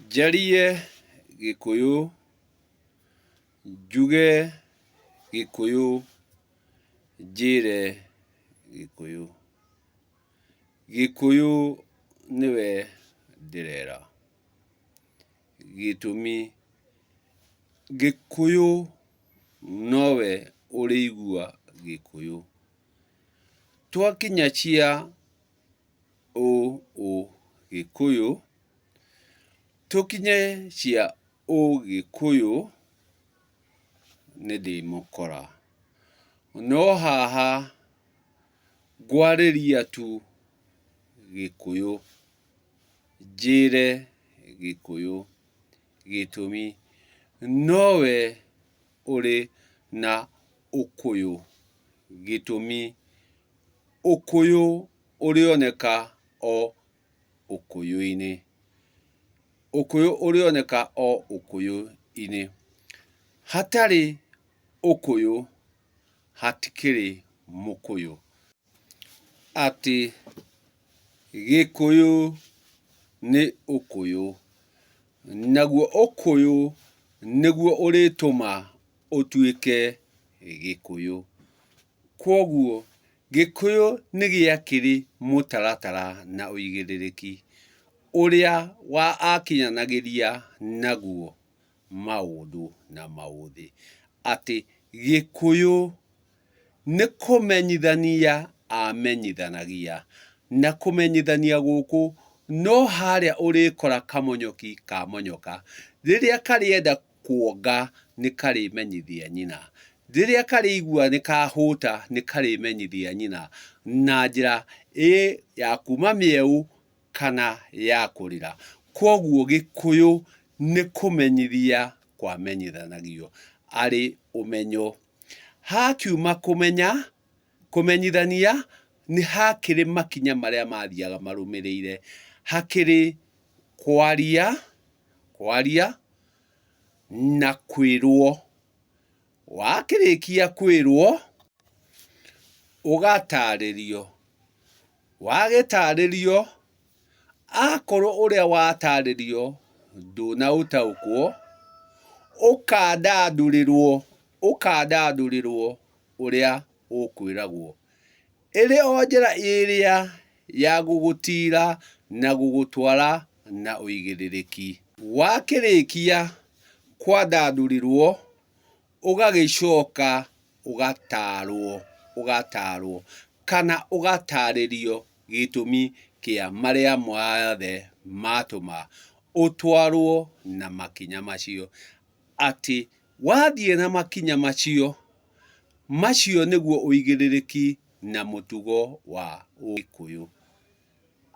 Njarie Gĩkũyũ, njuge Gĩkũyũ, njĩre Gĩkũyũ. Gĩkũyũ nĩwe ndĩrera, gĩtũmi Gĩkũyũ nowe ũrĩigua Gĩkũyũ. Twakinya cia ũũgĩkũyũ, tũkinye cia ũũgĩkũyũ nĩ ndĩmũkora. No haha ngwarĩria tu gĩkũyũ, njĩre gĩkũyũ gĩtũmi nowe ũrĩ na ũkũyũ gĩtũmi. Ũkũyũ ũrĩoneka o ũkũyũ-inĩ. Ũkũyũ ũrĩoneka o ũkũyũ-inĩ. Hatarĩ ũkũyũ hatikĩrĩ mũkũyũ. Atĩ gĩkũyũ nĩ ũkũyũ. Naguo ũkũyũ nĩguo ũrĩtũma ũtuĩke gĩkũyũ. Kwoguo, Gĩkũyũ nĩ gĩakĩrĩ mũtaratara na ũigĩrĩrĩki ũrĩa wakinyanagĩria naguo maũndũ na maũthĩ. Atĩ Gĩkũyũ nĩ kũmenyithania amenyithanagia, na kũmenyithania gũkũ no harĩa ũrĩkora kamonyoki kamonyoka rĩrĩa karĩenda kuonga, nĩkarĩmenyithia nyina. Rĩrĩa karĩigua nĩkahũta, nĩkarĩmenyithia nyina na njĩra ĩ ya kuuma mĩeũ kana ya kũrĩra. Kwoguo Gĩkũyũ nĩ kũmenyithia kwamenyithanagio arĩ ũmenyo. Hakiuma kũmenya, Kũmenyithania nĩ hakĩrĩ makinya marĩa mathiaga marũmĩrĩire. Hakĩrĩ kwaria, kwaria na kwĩrwo. Wakĩrĩkia kwĩrwo, ũgatarĩrio. Wagĩtarĩrio, akorwo ũrĩa watarĩrio ndũnaũtaũkwo, ũkandandũrĩrwo, ũkandandũrĩrwo. ũrĩa ũkwĩragwo, ĩrĩ o njĩra ĩrĩa ya gũgũtiira na gũgũtwara na ũigĩrĩrĩki. Wakĩrĩkia kwandandũrĩrwo, ũgagĩcoka ũgataarwo, ũgataarwo, kana ũgataarĩrio gĩtũmi kĩa marĩa mothe matũma ũtwarwo na makinya macio, atĩ Wathiĩ na makinya macio, macio nĩguo ũigĩrĩrĩki na mũtugo wa Ũgĩkũyũ.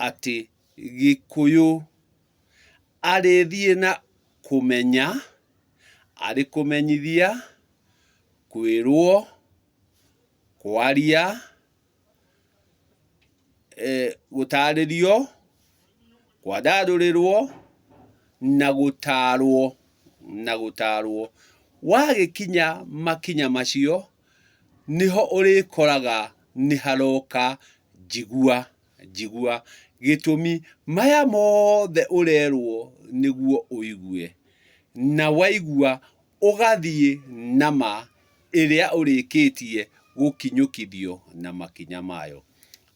Atĩ Gĩkũyũ arĩthiĩ na kũmenya, arĩ kũmenyithia, kwĩrwo, kwaria. gũtarĩrio, kwandandũrĩrwo, na gũtarwo, na gũtarwo. Wagĩkinya makinya macio, nĩho ũrĩkoraga nĩ haroka njigua, njigua. Gĩtũmi, maya mothe ũrerwo nĩguo ũigue, na waigua ũgathiĩ na ma ĩrĩa ũrĩkĩtie gũkinyũkithio na makinya mayo.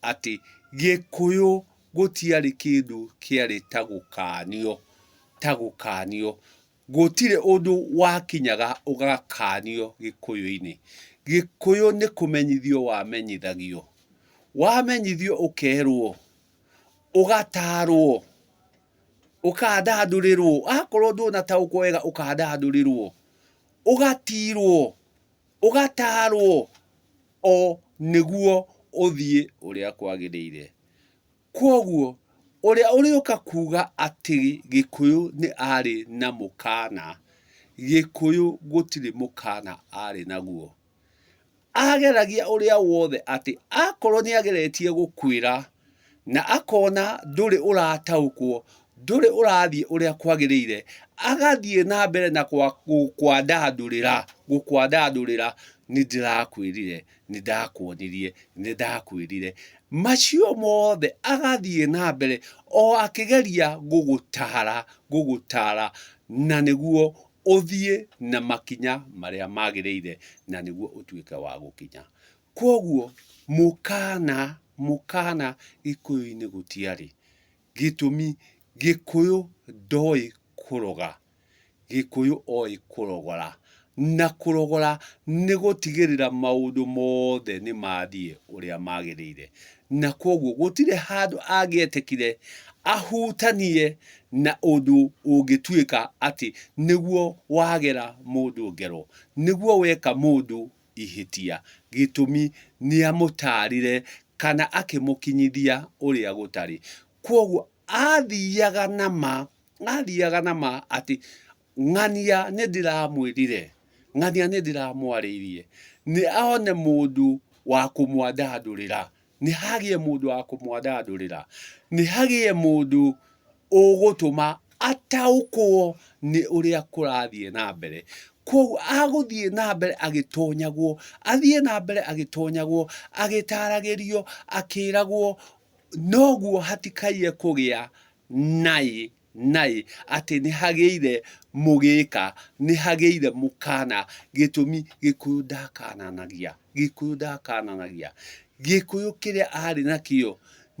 Atĩ Gĩkũyũ gũtiarĩ kĩndũ kĩarĩ ta gũkanio, ta gũkanio. Gũtirĩ ũndũ wakinyaga ũgakanio Gĩkũyũ-inĩ. Gĩkũyũ nĩ kũmenyithio wamenyithagio. Wamenyithio ũkerwo, ũgatarwo. ũkandandũrĩrwo, akorwo ndũnataũkwo wega ũkandandũrĩrwo, ũgatirwo, ũgatarwo o nĩguo ũthiĩ ũrĩa kwagĩrĩire. Kwoguo ũrĩa ũrĩũka kuga atĩ Gĩkũyũ nĩ arĩ na mũkana, Gĩkũyũ gũtirĩ mũkana arĩ naguo. ageragia ũrĩa wothe atĩ akorwo nĩ ageretie gũkwĩra na akona ndũrĩ ũrataũkwo, ndũrĩ ũrathiĩ ũrĩa kwagĩrĩire, agathiĩ na mbere na gũkwandandũrĩra, gũkwandandũrĩra, nĩ ndĩrakwĩrire, nĩ ndakuonirie, nĩ ndakwĩrire. Macio mothe agathiĩ na mbere o akĩgeria gũgũtara, gũgũtara na nĩguo ũthiĩ na makinya marĩa magĩrĩire na nĩguo ũtuĩke wa gũkinya. Kwoguo mũkana, mũkana gĩkũyũ-inĩ gũtiarĩ. Gĩtũmi gĩkũyũ ndoĩ kũroga, gĩkũyũ oĩ kũrogora. Na kũrogora nĩ gũtigĩrĩra maũndũ mothe nĩ mathiĩ ũrĩa magĩrĩire. na kwoguo gũtirĩ handũ angĩetekire ahutanie na ũndũ ũngĩtuĩka atĩ nĩguo wagera mũndũ ngero, nĩguo weka mũndũ ihĩtia. Gĩtũmi, nĩ amũtaarire kana akĩmũkinyithia ũrĩa gũtarĩ. Kwoguo aathiaga na ma, aathiaga na ma atĩ Ng'ania nĩndĩramwĩrire, ng'ania nĩndĩramwarĩirie, nĩ one mũndũ wa kũmwandandũrĩra, nĩ hagĩe mũndũ wa kũmwandandũrĩra, nĩ hagĩe mũndũ ũgũtũma ataũkwo nĩ ũrĩa kũrathiĩ na mbere. Kwoguo agũthiĩ na mbere agĩtonyagwo, athiĩ na mbere agĩtonyagwo, agĩtaragĩrio, akĩragwo, noguo hatikaiye kũgĩa naĩ naĩ atĩ nĩhagĩire mũgĩka nĩhagĩire mũkana gĩtũmi gĩkũyũ ndakananagia gĩkũyũ ndakananagia gĩkũyũ kĩrĩa arĩ nakĩo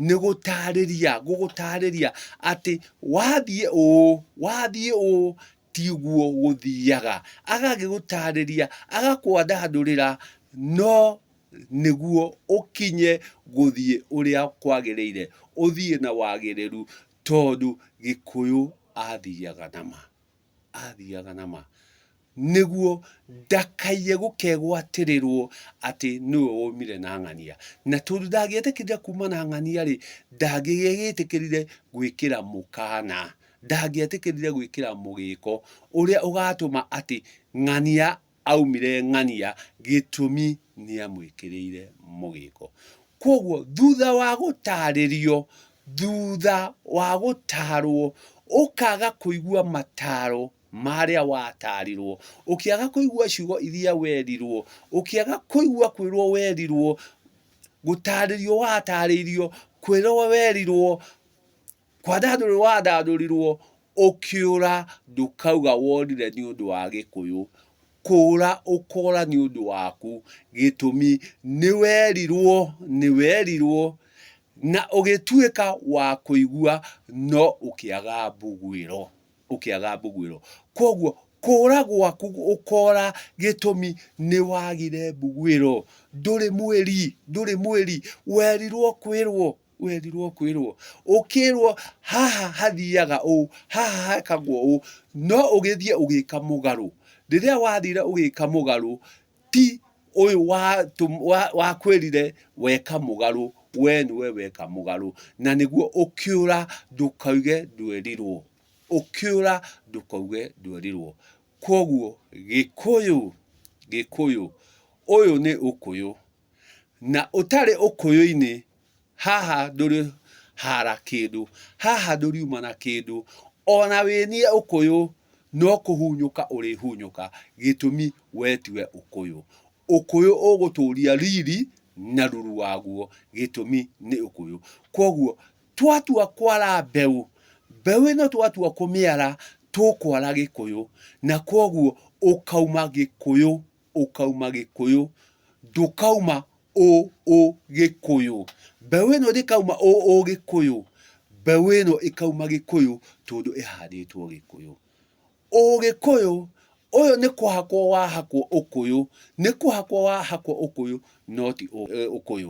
nĩgũtarĩria gũgũtarĩria atĩ wathiĩ ũũ wathiĩ ũũ tiguo gũthiaga agagĩgũtarĩria agakwandandũrĩra no nĩguo ũkinye gũthiĩ ũrĩa kwagĩrĩire ũthiĩ na wagĩrĩru Tondũ Gĩkũyũ athiaga na ma, athiaga na ma, nĩguo ndakaiye gũkegwatĩrĩrwo atĩ nĩwe womire na ng'ania. Na tondũ ndangĩetĩkĩrire kuuma na ng'ania rĩ, ndangĩgĩgĩtĩkĩrire gwĩkĩra mũkana, ndangĩetĩkĩrire gwĩkĩra mũgĩko ũrĩa ũgatũma atĩ ng'ania aumire ng'ania gĩtũmi nĩamwĩkĩrĩire mũgĩko. Kwoguo thutha wa gũtarĩrio, thutha wa gũtarwo, ũkaga kũigua mataro marĩa watarirwo, ũkĩaga kũigua ciugo iria werirwo, ũkĩaga kũigua kwĩrwo werirwo, gũtarĩrio watarĩirio, kwĩrwo werirwo, Kwandandũrirwo wandandũrirwo ũkĩũra ndũkauga worire nĩ ũndũ wa Gĩkũyũ, kũũra ũkora nĩ ũndũ waku gĩtũmi nĩ werirwo nĩ werirwo na ũgĩtuĩka wa kũigua no ũkĩaga mbugwĩro ũkĩaga mbugwĩro. Kwoguo kũũra gwaku ũkora gĩtũmi nĩ wagire mbugwĩro ndũrĩ mwĩri ndũrĩ mwĩri werirwo kwĩrwo werirwo kwĩrwo ũkĩrwo haha hathiaga ũũ haha hekagwo ũũ no ũgĩthiĩ ũgĩka mũgarũ rĩrĩa wathire ũgĩka mũgarũ ti ũyũ wakwĩrire weka mũgarũ we nĩwe weka mũgarũ na nĩguo ũkĩũra ndũkauge ndwerirwo ũkĩũra ndũkauge ndwerirwo kwoguo gĩkũyũ gĩkũyũ ũyũ nĩ ũkũyũ. na ũtarĩ ũkũyũ-inĩ, haha ndũrĩ hara kĩndũ, haha ndũriuma na kĩndũ, ona wĩ niĩ ũkũyũ no kũhunyũka ũrĩhunyũka gĩtũmi we tiwe ũkũyũ. Ũkũyũ ũgũtũria riri na ruru waguo gĩtũmi nĩ ũkũyũ. Kwoguo twatua kwara mbeũ, mbeũ ĩno twatua kũmĩara tũkwara gĩkũyũ na kwoguo ũkauma gĩkũyũ. ũkauma gĩkũyũ ndũkauma ũ ũ gĩkũyũ mbeũ ĩno ndĩkauma ũ ũ gĩkũyũ mbeũ ĩno ĩkauma gĩkũyũ tondũ ĩhandĩtwo gĩkũyũ ũ gĩkũyũ ũyũ nĩ kũhakwo wahakwo ũkũyũ nĩ kũhakwo wahakwo ũkũyũ noti ũkũyũ.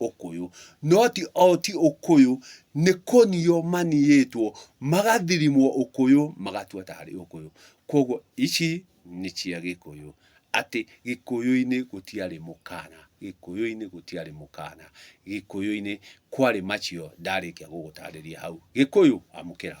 ũkũyũ. No ti o ti ũkũyũ, nĩ kũnio maniĩtwo, magathirimwo ũkũyũ, magatua ta harĩ ũkũyũ. Kwoguo ici nĩ cia Gĩkũyũ. Atĩ Gĩkũyũ-inĩ gũtiarĩ mũkana, Gĩkũyũ-inĩ gũtiarĩ mũkana, Gĩkũyũ-inĩ kwarĩ macio ndarĩkia gũgũtarĩria hau. Gĩkũyũ amũkĩra.